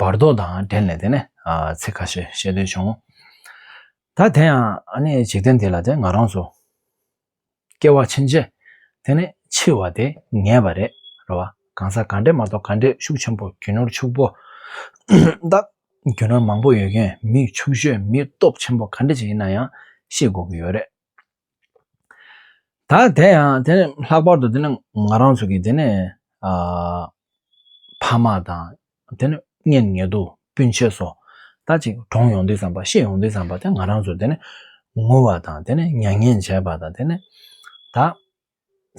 བར་དོ་དང་འབྲེལ་ནས་དེ་ནས་ཚིག་ཁ་ཤས་བཤད་འདོད་བྱུང། ད་དེ་ཡང་འཇིག་རྟེན་འདི་ལ་དེ་ང་རང་ཚོ་སྐྱེ་བ་ཕྱིན་རྗེས་དེ་ནས་འཆི་བ་དེ་ངེས་པ་རེད་རེད་བ། གང་ཟག་ག་འདྲས་མ་གཏོགས་ག་འདྲས་ཤུགས་ཆེན་པོ་རྒྱུ་ནོར་ཕྱུག་པོ་དང་རྒྱུ་ནོར་མང་པོ་ཡོད་མཁན་མི་ཕྱུག་ཤོས་མི་སྟོབས་ཆེན་པོ་ག་འདྲས་ཅིག་ཡིན་ན་ཡང་ཤེས་དགོས་ཀྱི་ཡོད་རེད། ད་དེ་ཡང་དེ་ནས་ལྷག་པར་དུ་དེ་ནས་ང་རང་ཚོ་གིས་དེ་ནས་ཕ་མ་དང་དེ་ནས་གཉེན་ཉེ་དུ་སྤུན་མཆེད་སོགས་ད་ཅིག་གྲོངས་ཡོང་དུས་བསམ་པ་ཤི་ཡོང་དུས་བསམ་པ་དེ་ང་རང་ཚོ་དེ་ནས་ངུ་བ་དང་དེ་ནས་མྱ་ངན་བྱས་པ་དང་དེ་ནས་ད་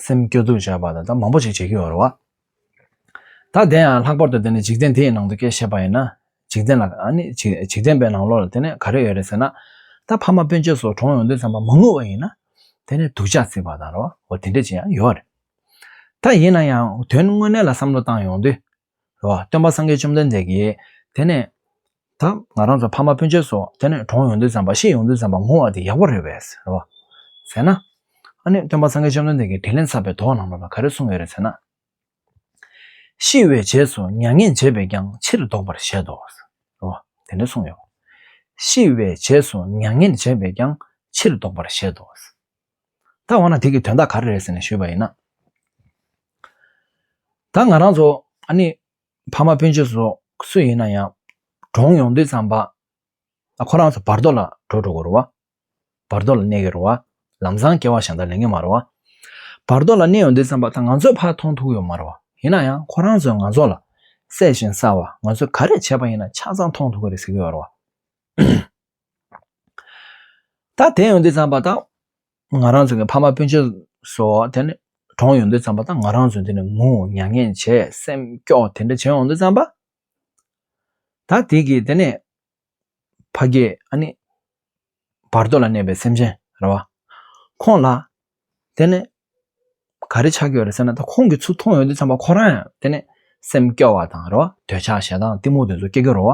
སེམས་སྐྱོ་སྡུག་བྱ་བ་དང་ད་མང་པོ་ཞིག་བྱེད་ཀྱི་ཡོད་རེད་བ། ད་དེ་ཡང་ལྷག་པར་དུ་དེ་ནི་འཇིག་རྟེན་དེའི་ནང་དུ་སྐད་བཤད་པ་ཡིན་ན། འཇིག་རྟེན་ལ་ནི་འཇིག་རྟེན་པའི་ནང་ལོགས་ལ་དེ་ནི་ག་རེ་ཡོད་རེད་ཟེར་ན། ད་ཕ་མ་སྤུན་མཆེད་སོགས་གྲོངས་ཡོང་དུས་བསམ་པ་མ་ངུ་བ་ཡིན་ན། དེ་ནི་སྡུག་ཆགས་སྲིད་པ་དང་རེད་བ་འོ་དེ་འདྲ་ཅིག་ཡང་ཡོད་རེད། ད་ཡིན་ན་ཡང་དོན་དངོས་གནས་ལ་བསམ་བློ་བཏང་ཡོང་དུས་རེད་བ། སྟོན་པ་སངས་རྒྱས་བཅོམ་ལྡན་འདས་ཀྱིས། དེ་ནས། ད་ང་རང་ཚོ་ཕ་མ་སྤུན་མཆེད་སོགས་དེ་ནས་གྲོངས་ཡོང་དུས་བསམ་པ་ཤེས་ཡོང་དུས་བསམ་པ་ངུ་བ་དེ་ཡག་པོ་རེད་བས། རེད་བ། ཟེར་ན། ཨ་ནི་སྟོན་པ་སངས་རྒྱས་བཅོམ་ལྡན་འདས་ཀྱིས་དྲིས་ལན་ཚར་པའི་དོགས་གནང་བ་ལ་ག་རེ་གསུངས་ཡོད་རེད་ཟེར་ན། ཤི་བའི་རྗེས་སུ་མྱ་ངན་འཇལ་བས་ཀྱང་ཕྱིར་ལྡོག་པར་བཞེད་དོ། རེད་བ། དེ་འདྲ་གསུངས་ཡོད་བ། ཤི་བའི་རྗེས་སུ་མྱ་ངན་འཇལ་བས་ཀྱང་ཕྱིར་ལྡོག་པར་བཞེད་དོ། ད་འོ་ན་དེ་གི་དོན་དག་ག་རེ་རེད་ཟེར་ནས་ཞུས་པ་ཡིན་ན། ད་ང་རང་ཚོ་ཨ་ནི་ཕ་མ་སྤུན་མཆེད་ཚོ་སུ་ཡིན་ན་ཡང་གྲོངས་ཡོང་དུས་ཙམ་པ་ཁོ་རང་ཚོ་བར་དོ་ལ་འགྲོ་འགྲོ་གི་རུ་བ། བར་དོ་ལ་གནས་གི་རུ་བ། ལམ་སང་སྐྱེ་བ་ཞག་འདར་ལེན་གི་མ་རུ་བ། བར་དོ་ལ་གནས་ཡོང་དུས་ཙམ་པ་ད་ང་ཚོའི་ཕ་མཐོང་ཐུག་ཡོད་མ་རུ་བ་ཡིན་ན་ཡང་ཁོ་རང་ཚོས་ང་ཚོ་ལ་སྲས་བཞིན་བསགས་བ་ང་ཚོས་ག་རེ་བྱས་པ་ཡིན་ན་ཆ་ཚང་མཐོང་ཐུག་གི་རེད་ཟེར་གི་ཡོད་རུ་བ། ད་དེ་ཡོང་དུས་བརྩམས་པ་དང་ང་རང་ཚོ་གི་ཕ་མ་སྤུན་མཆེད་སོ་དེ་ནི་གྲོངས་ཡོང་དུས་བརྩམས་པ་དང་ང་རང་ཚོ་འདི་ནས་ངུ་མྱ་ངན་བྱེད་སེམས་སྐྱོ་དེ་འདྲ་བྱེད་ཡོང་དུས་བརྩམས་པ། ད་དེ་གི་དེ་ནི་ཕ་གི་ཨ་ནི་བར་དོ་ལ་གནས་པའི་སེམས་ཅན་རེད་བ། ཁོང་ལ་དེ་ནས་ག་རེ་ཆགས་ཀྱི་ཡོད་རེད་ཟེར་ན་ད་ཁོང་གིས་ཚུར་མཐོང་ཡོད་དུས་ཙམ་པ་ཁོ་རང་ཡང་དེ་ནས་སེམས་སྐྱོ་བ་དང་རེ་བ་འདོད་ཆགས་ཞེ་སྡང་གཏི་མུག་དེ་ཚོ་སྐྱེ་གི་རོ།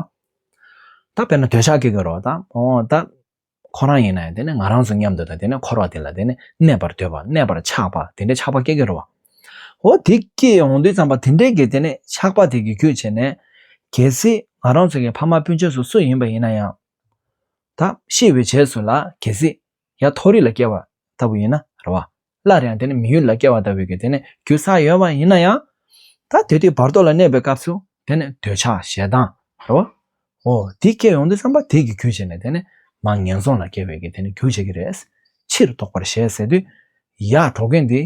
ད་དཔེར་ན་འདོད་ཆགས་སྐྱེ་གི་རོ་དང་ཨོ་ད་ཁོ་རང་ཡིན་ན་ཡང་དེ་ནས་ང་རང་ཚོ་མཉམ་དུ་དང་དེ་ནས་འཁོར་བ་དེ་ལ་དེ་ནས་གནས་པར་འདོད་པ་གནས་པར་ཆགས་པ་དེ་འདྲའི་ཆགས་པ་སྐྱེ་གི་རོ། ཨོ་དེ་སྐྱེ་ཡོང་དུས་ཙམ་པ་དེ་འདྲའི་གི་དེ་ནས་ཆགས་པ་དེ་གི་རྒྱུ་བྱས་ནས་གལ་སྲིད་ང་རང་ཚོ་གི་ཕ་མ་སྤུན་མཆེད་སུ་སུ་ཡིན་པ་ཡིན་ན་ཡང། ད་ཤི་བའི་རྗེས་སུ་ལ་གལ་སྲིད་ཡང་མཐོ་རིས་ལ་སྐྱེ་བ་ལྟ་བུ་ཡིན་ན་རེ་བ། སླར་ཡང་དེ་ནི་མི་ཡུལ་ལ་སྐྱེ་བ་ལྟ་བུའི་གེགས་དེ་ནི་རྒྱུ་ས་ཡོད་པ་ཡིན་ན་ཡང། ད་དེ་དུས་བར་དོ་ལ་གནས་པའི་སྐབས་སུ་དེ་ནི་འདོད་ཆགས་ཞེ་སྡང་རེ་བ། འོ་དེ་སྐྱེ་ཡོང་དུས་བསམ་པ་དེས་ཀྱི་རྒྱུ་བྱས་ནས་དེ་ནི་མ་ངན་སོང་ལ་སྐྱེ་བའི་གེགས་དེ་ནི་རྒྱུ་བྱེད་ཀྱི་རེད། ཕྱིར་ལྡོག་པར་བྱས་ཟེར་དུས། ཡར་འགྲོ་མཁན་དེས་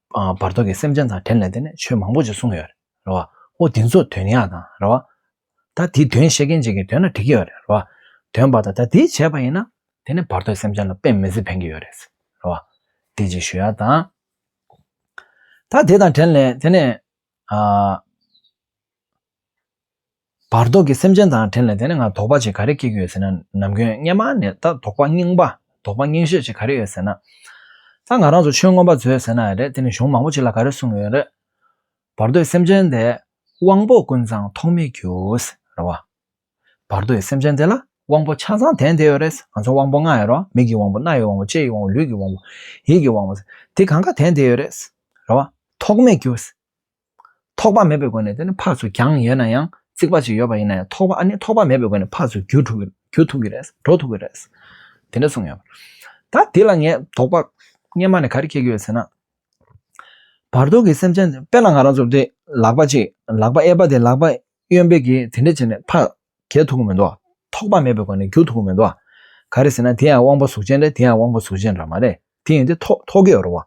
བར་དོ་གི་སེམས་ཅན་དང་བྲལ་ནས་དེ་ནས་ཆོས་མང་པོ་ཅིག་གསུངས་ཡོད་རེད་བ། ཨོ་དེ་ཚོ་དོན་ཡག་དང་རེད་བ། ད་དེ་དོན་བཤད་མཁན་ཅིག་གིས་དོན་ལ་དྲི་གི་ཡོད་རེད་བ། དོན་པ་དང་ད་དེ་བྱས་པ་ཡིན་ན་དེ་ནས་བར་དོའི་སེམས་ཅན་ལ་ཕན་མི་སྲིད་ཕན་གི་ཡོད་རེད་བ། དེ་ཅིག་ཞུ་ཡ་དང། ད་དེ་དང་བྲལ་ནས་དེ་ནས། བར་དོ་ཀྱི་སེམས་ཅན་དང་དྲན་ལ་དེ་ནས་ང་དོགས་པ་ཅིག་ག་རེ་སྐྱེ་གི་ཡོད་ཟེར་ན་ནམ་མཁའི་སྙེ་མ་ནས་ད་དོགས་པ་རྙིང་པ་དོགས་པ་རྙིང་ཤས་ཅིག་ག་རེ་ཡོད་ཟེར་ན། ད་ང་རང་ཚོ་ཆོས་མངོན་པ་མཛོད་ཟེར་ན་རེད་དེ་ནི་གཞུང་མང་པོ་ཅིག་ལ་ག་རེ་གསུངས་ཡོད་རེད། བར་དོའི་སེམས་ཅན་དེ་དབང་པོ་ཀུན་ཚང་ཐོགས་མེད་རྒྱུའོ། རེད་བ། བར་དོའི་སེམས་ཅན་དེ་ལ་དབང་པོ་ཆ་ཚང་དན་དེ་ཡོད་རེད། ང་ཚོ་དབང་པོ་ལྔ་ཡོད་རོ། མིག་གི་དབང་པོ་རྣ་ཡི་དབང་པོ་ལྕེ་ཡི་དབང་པོ་ལུས་ཀྱི་དབང་པོ་ཡིད་ཀྱི་དབང་པོ། དེ་གང་ག་དན་དེ་ཡོད་རེད། རེད་བ། ཐོགས་མེད་རྒྱུ། ཐོགས་པ་མེད་པའི་སྒོ་ནས་དེ་ནི་འཕགས་སུ་འགྱངས་ཡོད་ན་ཡང་རྩིག་པ་ཅིག་ཡོད་པ་ཡིན་ན་ཡང་ཐོགས་པ་ནི་ཐོགས་པ་མེད་པའི་སྒོ་ནས་འཕགས་སུ་རྒྱུ་འགྲོ་རྒྱུ་ཐུག་གི་རེད་འགྲོ་ཐུག་གི་རེད། དེ་འདྲ་གསུངས་ཡོད། ད་འདི་ལ་ངས་དོགས་པ་སྔེན་མ་ནས་ག་རེ་སྐྱེ་གི་ཡོད་ཟེར་ན། བར་དོ་གི་སེམས་ཅན་དཔེ་ལ་ང་རང་ཚོ་དེ་ལག་པ་ཅིག་ལག་པ་གཡས་པ་དེ་ལག་པ་གཡོན་པའི་གིས་དེ་འདྲ་བྱས་ནས་འཕགས་རྒྱལ་ཐུག་གི་མི་འདུག་ཨ། ཐོགས་པ་མེད་པའི་སྒོ་ནས་རྒྱུ་ཐུག་གི་མི་འདུག་ཨ། ག་རེ་ཟེར་ན་དེ་ཡང་དབང་པོ་གཟུགས་ཅན་རེད་དེ་ཡང་དབང་པོ་གཟུགས་ཅན་ར་མ་རེད། དེ་ཡིན་དེ་ཐོག་ཐོག་གི་རོ།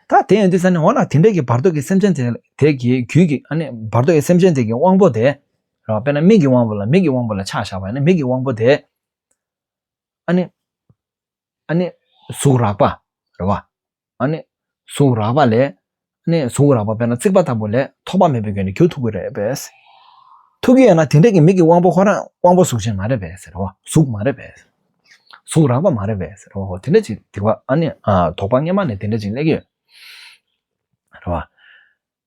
ད་དེ་ཡིན་དེ་ས་ནི་འོ་ན་དེ་འདྲ་གི་བར་དོ་གི་སེམས་ཅན་དེ་གི་རྒྱུད་ཀྱི་ཨ་ནི་བར་དོ་གི་སེམས་ཅན་དེ་གི་དབང་པོ་དེ་ར་བ་པས་ན་མིག་གི་དབང་པོ་ལ་མིག་གི་དབང་པོ་ལ་ཆགས་བཞག་པ་ཡིན་ན་མིག་གི་དབང་པོ་དེ་ཨ་ནི་ཨ་ནི་གཟུགས་རགས་པ་ར་བ་ཨ་ནི་གཟུགས་རགས་པ་ལས་ནས་བཟུང་རགས་པ་དཔེར་ན་རྩིག་པ་ལྟ་བུ་ལས་ཐོགས་པ་མེད་པའི་སྐྱོན་ནི་རྒྱུ་ཐུག་གི་རེད་པས། ཐུག་གི་ཡོད་ན་དེ་འདྲ་གི་མིག་གི་དབང་པོ་ཁོ་རང་དབང་པོ་གཟུགས་ཅན་མ་རེད་པས་ཟེར་བ་གཟུགས་མ་རེད་པས། གཟུགས་རགས་པ་མ་རེད་པས་ཟེར་བ་ཧོ་དེ་འདྲ་ཅིག་སྡིག་པ་ཨ་ནི་དོགས་པ་སྔས་མ་ནས་དེ་འདྲ་ཅིག་སླེབས་ཀྱི་ཡོད་རེད་བ།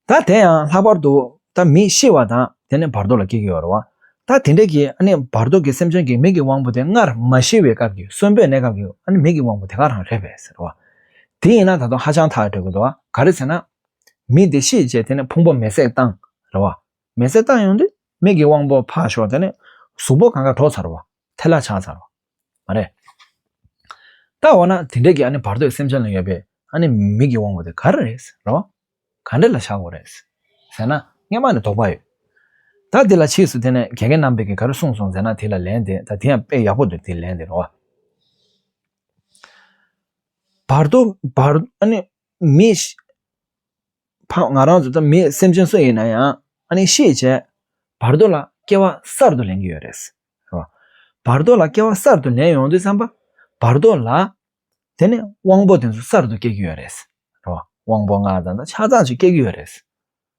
ད་དེ་ཡང་ལྷག་པར་དུ་ད་མི་ཤི་བ་དང་དེ་ནི་བར་དོ་ལ་སྐྱེ་གི་ཡོད་རེད་བ། ད་དེ་འདྲ་གི་ཨ་ནི་བར་དོ་གི་སེམས་ཅན་གྱི་མིག་གི་དབང་པོ་དེ་སྔར་མ་ཤི་བའི་སྐབས་ཀྱི་གསོན་པོའི་གནས་སྐབས་ཀྱི་ཨ་ནི་མིག་གི་དབང་པོ་དེ་ག་རང་རེད་པས་ཟེར་བ། དེ་ཡིན་ན་ད་དུང་ཧ་ཅང་ཐག་གྲོལ་གི་འདུག་ག་རེད་ཟེར་ན། མི་དེ་ཤི་རྗེས་དེ་ནས་ཕུང་པོ་མེ་བསྲེགས་བཏང་རེད་བ། མེ་བསྲེགས་བཏང་ཡོང་དུས་མིག་གི་དབང་པོ་ཕག་ཞོགས་དེ་ནས་གཟུགས་པོ་གང་ག་གྲོགས་ཚར་བ། ཐལ་ལ་ཆགས་ཚར་བ། མ་རེད། ད་འོ་ན་དེ་འདྲས་ཀྱི་ཨ་ནི་བར་དོའི་སེམས་ཅན་ལ་ཡོད་པའི་ཨ་ནི་མིག་གི་དབང་པོ་དེ་ག་རེ་རེད་ཟེར་བ། ག་འདྲས་ལ་བཞག་དགོས་རེད། ཟེར་ན་སྔས་མ་ནས་དོགས་པ་ཡོད། ད་དེ་ལ་ཕྱིས་སུ་དེ་ནས་དགེ་རྒན་རྣམ་པས་ཀྱི་ག་རེ་གསུངས་སོང་ཟེར་ན་དེ་ལ་ལན་དེ་ད་དེ་ཡང་དཔེ་ཡག་པོ་འདུག་དེ་ལན་དེ་རེད་བ། བར་དོ་མེད། སེམས་ཅན་སུ་ཡིན་ན་ཡང་ཤེས་བྱའི་བར་དོ་ལ་སྐྱེ་བ་གསར་དུ་ལེན་གྱི་ཡོད་རེད། བར་དོ་ལ་སྐྱེ་བ་གསར་དུ་ལེན་ཡོང་དུས་བསམ་པ་བར་དོ་ལ་དེ་ནས་དབང་པོ་དེ་ཚོ་གསར་དུ་སྐྱེ་གི་ཡོད་རེད། དབང་པོ་ལྔ་ཙམ་ཆ་ཚང་ཞིག་སྐྱེ་གི་ཡོད་རེད།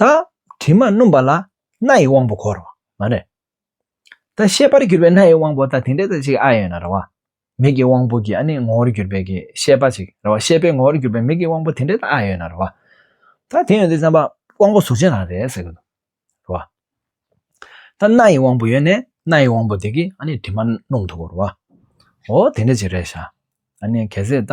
ད་དྲི་མ་སྣུམ་པ་ལ་སྣ་ཡི་དབང་པོ་གོ་རེད། མ་རེད། ད་ཤེས་པར་གྱུར་པའི་སྣ་ཡི་དབང་པོ་ད་དེ་འདྲའི་ཚད་ཅིག་ཨ་ཡོད་ན་རེད་བ། མིག་གི་དབང་པོ་གྱི་ཨ་ནི་ངོ་བོར་གྱུར་པའི་གི་ཤེས་པ་ཅིག་རེད་བ་ཤེས་པའི་ངོ་བོར་གྱུར་པའི་མིག་གི་དབང་པོ་དེ་འདྲའི་ད་ཨ་ཡོད་ན་རེད་བ། ད་དེ་ཡོད་ཚེ་བསམ་པ་དབང་པོ་གཟུགས་ཅན་རང་རེད་ཟེར་གྱི་འདུག་རེད་བ། ད་སྣ་ཡི་དབང་པོ་ཡོད་ནས་སྣ་ཡི་དབང་པོ་དེ་གིས་ཨ་ནི་དྲི་མ་སྣུམ་ཐུབ་བོ་རེད་བ། འོ་དེ་འདྲ་ཅིག་རེད་བྱ། ཨ་ནི་གལ་སྲིད་ད